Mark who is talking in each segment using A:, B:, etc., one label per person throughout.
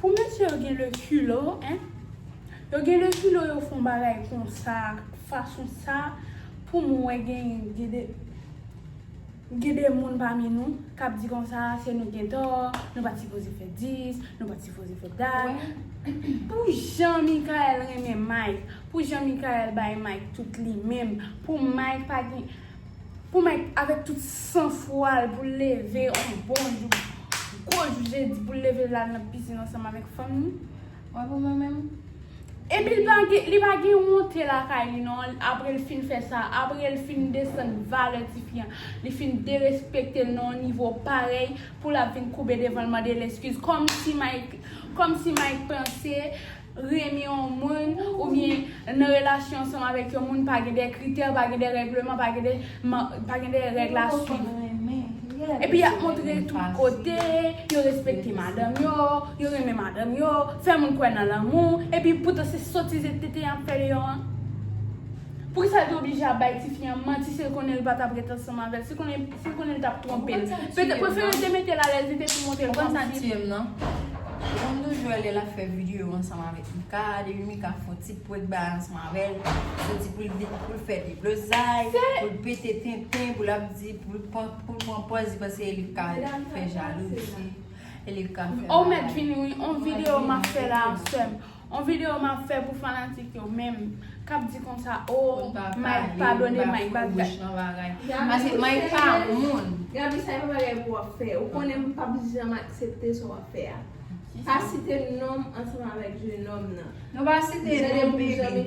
A: Pou
B: mesye yo gen le culo hein. Yo gen le culo yo fon bagay konsa fason sa pou mwen wè gen gede gen de moun pami nou kap di konsa se nou gen tò nou pat sipoze fè 10 nou pat sipoze fè dat pou jan Mikael renmen Mike pou jan Mikael bay Mike tout li menm pou Mike pa gen Pou mwen avèk tout san fwa l pou l leve yon bon jou, gwo jou jedi pou l leve l al nan pizin ansanm avèk fanm li. Wè pou mwen
A: menm. Epi
B: li pa gen wonte lakay li non apre l fin fè sa, apre l fin desann valè tifi an, li fin derespekte l nan yon nivo parèy pou l ap vin koube devan l mande l eskiz kòmsi Mike panse renmen yon moun oubyen nan relasyon ansanm avèk yon moun pa gen de kritè, pa gen de règleman, pa gen de pa gen de règle a swiv. Epi yap montre tout kote, yo respekte madanm yo, yo renmen madanm yo, fè moun kwè nan lanmou, epi poutan se sotiz et tenten yap fè deyò an. Poukisa li te oblije ap bay tifi an manti si l konnen li pa tap ret ansanm avèl, si l konnen Si l konnen l t ap twonpe l. Petèt prefere l te mete l alèz li te tou monte l kòm si. Ou konn sa k tiye m nan?
A: Ou konn tou jwè lè l ap fè videyo ansanm avèk Mika, depi Mika fon ti prank bay ansanm avè l, se di pou l vin pou l fè deblozay, pou l pete tenten, pou l ap di pou l pran pòz li panse li ka fè jalouzi, li ka fè bagay. Ou mèt vini wi,
B: on videyo m ap fè la a sèm. On video map fè pou fanatik yo menm kap di konsa ooh Mike padone Mike bat gaye paske
A: Mike pa moun. Gaby sa e pa bagay
C: pou wap fè ou konnen m pap janm aksepte sa wap fè a pa site nonm ansanm avèk jenòm nan. Nou pa site
A: non baby.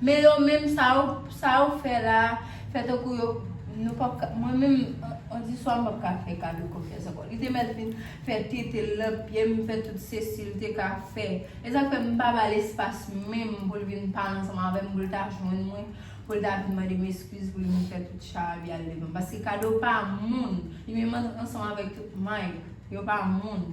A: Men yo menm sa yo sa yo fè la fè tankou yo nou pap ka mwen menm on di swa m pap ka fè Carlo konfyans ankò li te mèt vin fè tete l nan pye m fè tout sesi l te ka fè e sa k fè m pa ba l espas menm pou l vin pale ansanm avè m pou l ta jwenn mwen pou l ta vin mande m eskiz pou l vin fè tout charabya l devan m paske Carlo pa moun li menm ansanm avèk tout Mike yo pa moun.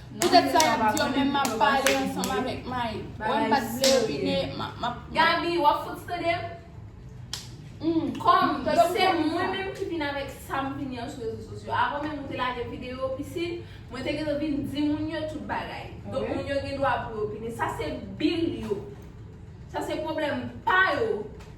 B: Poutèt sa yap di yo menm map pale ansanm avèk Mayi. Wèm pat vle opine map. Gaby wap fout
C: tandem? Humm kòm se mwen menm ki vin avèk sam vin yon sou rezo sosyo avan menm ou te lage video pisin mwen te gentan vin di moun yo tout bagay donk moun yo gen dwa pou yo opine sa se bil yo sa se pwoblèm pa yo.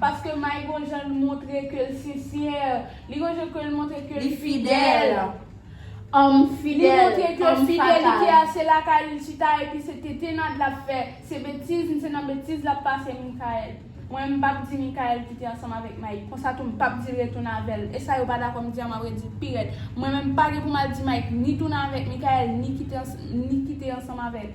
B: Paske May gon jan l montre ke l sensè. Li gon jan ke l montre ke l fidèl.
A: Homme
B: fidèl, homme
A: fatal. Li montre ke
B: fidelite a se lakay li l chita epi se tetennad l ap fè. Se betiz, se nan betiz l ap pase Mickaël. Mwen menm m pap di Mickaël kite ansanm avèk May. Konsa tou m pap di l retounen avè l. E sa yo pa dakò m di an m ap redi l pi rèd. Mwen menm m pa gen pou m al di May ni tounen avèk Mickaël ni kite ansanm avè l.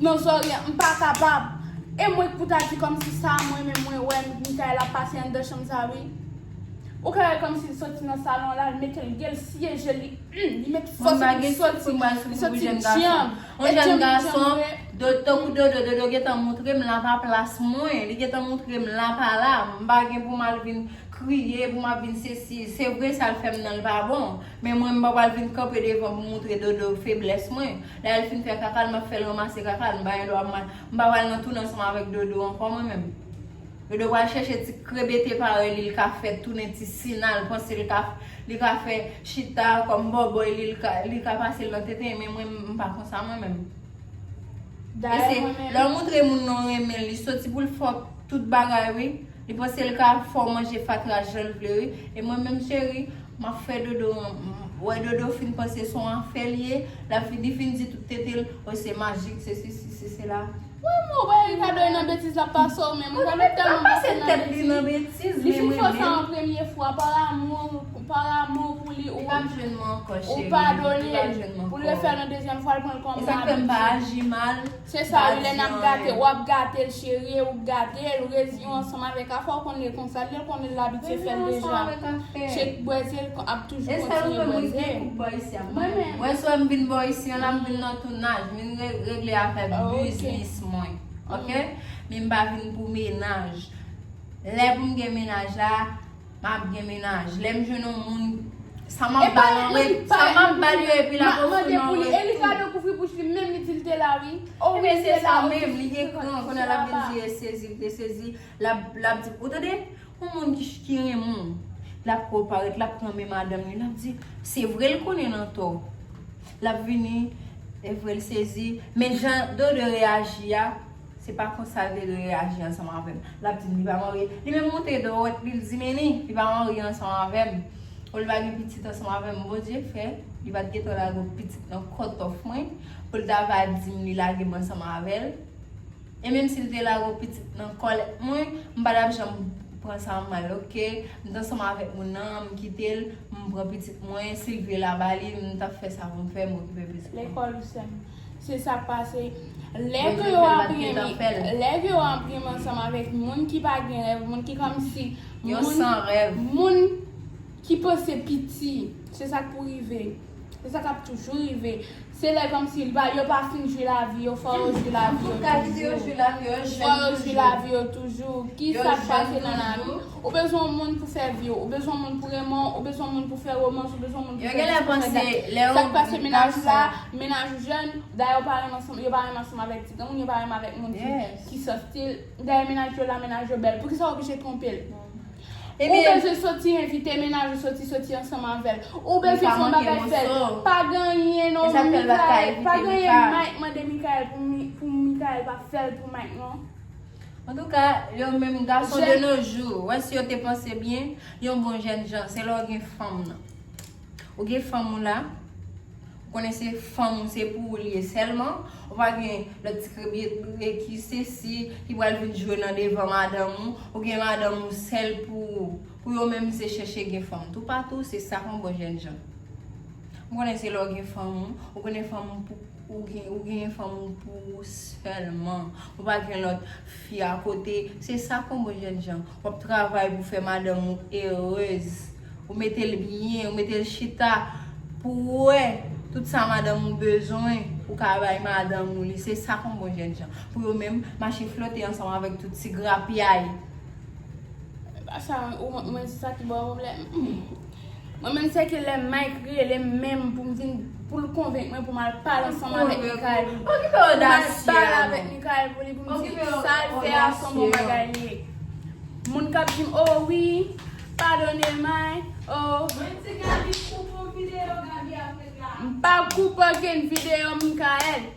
B: Non zoryen m pa kapab. E mwen k pou ta di kòmsi sa mwen menm mwen wè Mickaël ap pase anndan chanm sa wi. Ou ka wèl kòmsi li soti nan salon la l metel gen l siye jel li humm li met fòs epi li soti
A: li soti dyanm e dyanm li dyanm vre. Tankou dodo dodo gentan moutrem la pa plas mwen li gentan moutrem la pa la m pa gen pou mal vin kriye pou map vin sesi se vre sal fèm nan l pa bon. Men mwen m pa pral vin kanpe devan pou m moutre dodo feblès mwen. Lè l fin fè kaka l m ap fè l ranmase kaka l. M pa gen dwa mal. M pa pral nan toune ansanm avèk dodo ankò mwen menm. Dodo pral chèche ti krebete parèy li l ka fè tounen ti sina l panse l ka li ka fè chita kòm bòbòy li l ka li ka pase l nan tenten l men mwen m pa konsa mwen menm. Dayè mwen menm. Lè w moutre moun non renmen l li soti pou l fè w tout bagay wi. Li panse li ka fèw manje fatra janl vle wi e mwen menm cheri map fè dodo wè dodo fin panse son afèl ye lap fin li fin di tout tetel oh se majik se sesi se sela. Woy mwen wè Ricardo
B: e nan betiz lap pasew menm Ricardo tèlman pase
A: nan betiz li fin fè sa an
B: premye fwa par amour par amour pou li ou padonel poul refèl yon dezyèm fwa l pranl kòm
A: abitid. Se sa wi lè nap
B: gate wap gatel cherie ou k gatel rezi ou ansanm avèk afè ou konn lil konsa lil konn l abitye fèl deja chek bwèze l ap toujou kontinye bwèze
A: Mwen swe m vin bò isi an la m vin nan tounaj m vin regle afè biznis mwen ok min m pa vin pou menaj lè pou m gen menaj la Map gen menaj lem jwenn yon moun sa map bal an re sa map bal yo epi lap ap mande pou li e li ka
B: do kouvri bouch li menm li dil te la wi o wi se sa
A: menm li gen kran kounye a lap vin di e sezi li te sezi lap di ou tande yon moun ki renmen w lap ko paret lap pran men madanm li lap di se vre l konnen l antò lap vini e vre l sezi men jan dodo reyaji a. Se pa konsa li te dwe reyaji ansanm avè m. L ap di m li pa marye. Li menm monte dwèt li, l di m enni, li pa marye ansanm avè m. Ou li pa gen pitit ansanm avè m. Bondye fè, li pa t gentan lage yon pitit nan kòtòf mwen pou l ta va di m li lage m ansanm avè l. E menm si l te lage yon pitit nan kòlèt mwen, m pa t ap janm pran sa mal oke. M te ansanm avèk moun nan, m kite l, m pran pitit mwen. Si l vle l a ba li, m t ap fè sa pou m fè, m okipe pitit mwen. Lekòl ou sè m.
B: Se sa k pase. Lè ke yo enprime, lè ke yo enprime ansanm avèk moun ki pa gen rèv, moun ki kòmsi,
A: moun
B: ki panse piti, se sa k pou rive. Se sa k ap toujou rive. Se lè kòmsi yo pa fin jwi lavi yo, fò yo jwi lavi yo toujou. Fò yo jwi lavi yo toujou. Ki sa k pase nan lavi? Ou bezwen yon moun pou sèvi w, ou bezwen yon moun pou renmen w, ou bezwen yon moun pou fè romans, ou bezwen yon moun pou fè dis, pou fè dat. Sa k pase mennaj ou la, mennaj ou jèn, dayè ou pa renmen ansanm, yo pa renmen ansanm avèk ti granmoun, yo pa renmen avèk moun ki san stil. Dayè mennaj yo la, mennaj yo bèl. Poukisa w oblije twonpe l? Ou bezwen soti, envite mennaj ou soti, soti ansanm avè l. Ou bezwen fè yon bagay fè l. Pa genyen non Mikaël, pa genyen Mike mande Mikaël pou Mikaël pa fè l pou Mike non. Antouka,
A: yo menm gason de nos jours, wè si yo te panse byen, yon bon jèn jan, se lè w gen fanm nan. Ou gen fanm ou la, ou konnen se fanm ou, se pou ou li ye sèlman, ou pa gen lòt ti krebyetre ki sesi, ki pral vin jwe nan devan madanm ou, ou gen madanm ou sèl pou ou. Pou yo menm se chèche gen fanm toupatou, se sa yon bon jèn jan. M konnen se lè w gen fanm ou, ou konnen fanm ou pou. Ou gen ou genyen fanm ou pou ou sèlman. Ou pa gen lòt fi a kote. Se sa kon bon jèn jan. Wap travay pou fè madanm ou erez. Ou mete l byen, ou mete l chita pou ou wè tout sa madanm ou bezwen ou ka bay madanm ou li. Se sa kon bon jèn jan. Pou yo menm mache flote ansanm avèk tout ti grapyay.
B: Sa ou mwen sa ki bon mwen m lè. Mwen menm se ke lè Mike relem menm pou m vin pou l konvenk mwen pou m al pale ansanm avèk Mikayèl pou m al pale avèk Mikayèl pou li pou m di sa l fè a son bon bagay li ye moun k ap di m oh wi padone Mike oh m pa koupe okenn videyo Mikayèl.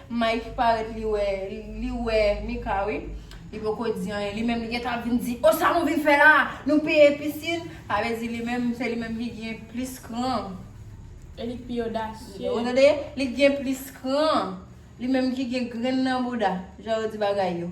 A: Mike parèt li wè li wè Mika wi li poko di anyen li menm li gentan ap vin di oh sa nou vin fè la nou peye piscine sa vle di li menm se li menm ki gen plis kran e li
B: k pi odasye ou tande li k
A: gen plis kran li menm ki gen grenn nan bouda jan yo di bagay yo.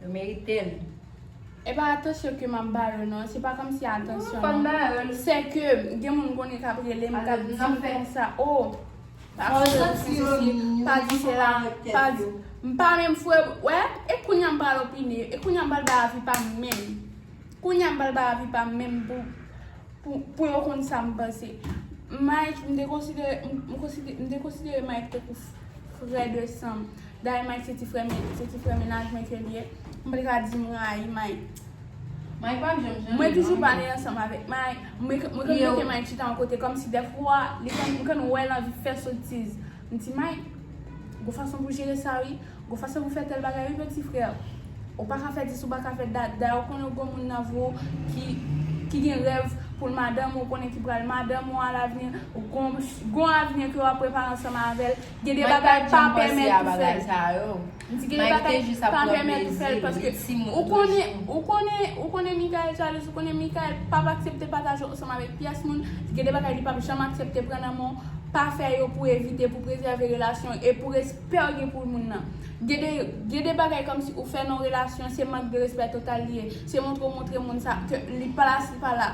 A: Yo meritel.
B: E pa atansyon ke map ba yo non, se pa komsi atansyon non. Ou konn ba yo l. Se ke
A: gen moun
B: konnen kap relem kap dim konsa oh pa fè sa si si si pa di se la pa di m pa menm fwe wè e kounya m pral opine e kounya m pral bay avi pa m menm kounya m pral bay avi pa m menm pou pou pou yo konn sa m panse Mike m te konsidere m konsidere m te konsidere Mike tankou frè de san m Dayè Mike se ti frè men se ti frè mennaj mwen ke li ye. M pa t ka di m rayi Mike. Mike
A: pa janm janm. Mwen toujou pale ansanm
B: avèk Mike. Mwen konn mete Mike chita yon kote kòmsi dèfwa li konn m konn wè l anvi fè sotiz. M di Mike, gon fason pou jere sa wi. Gon fason pou fè tèl bagay wi peti frè. Ou pa ka fè dis ou pa ka fè dat. Dayè ou konnen ou gon moun nan vre w ki gen rèv pou l madanm ou konnen ki pral madanm ou alavni. Ou gon avni ke w ap prepare ansanm avè l. Gen de bagay pa pèmèt ou fè l. M di gen de bagay pa pèmèt ou fè l paske ou konnen ou konnen ou konnen Mikael jalouz ou konnen Mikael pap aksepte pataje w ansanm avèk pyès moun gen de bagay li pap janm aksepte pran nan men w pa fè yo pou evite pou prezève relasyon e pou respè w gen pou moun nan gen de gen de bagay kòmsi ou fè nan yon relasyon se mank de respè total li ye se montre w montre moun sa ke li pa la si l pa la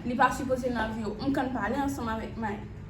B: li pa sipoze nan vi w m konn pale ansanm avèk Mike.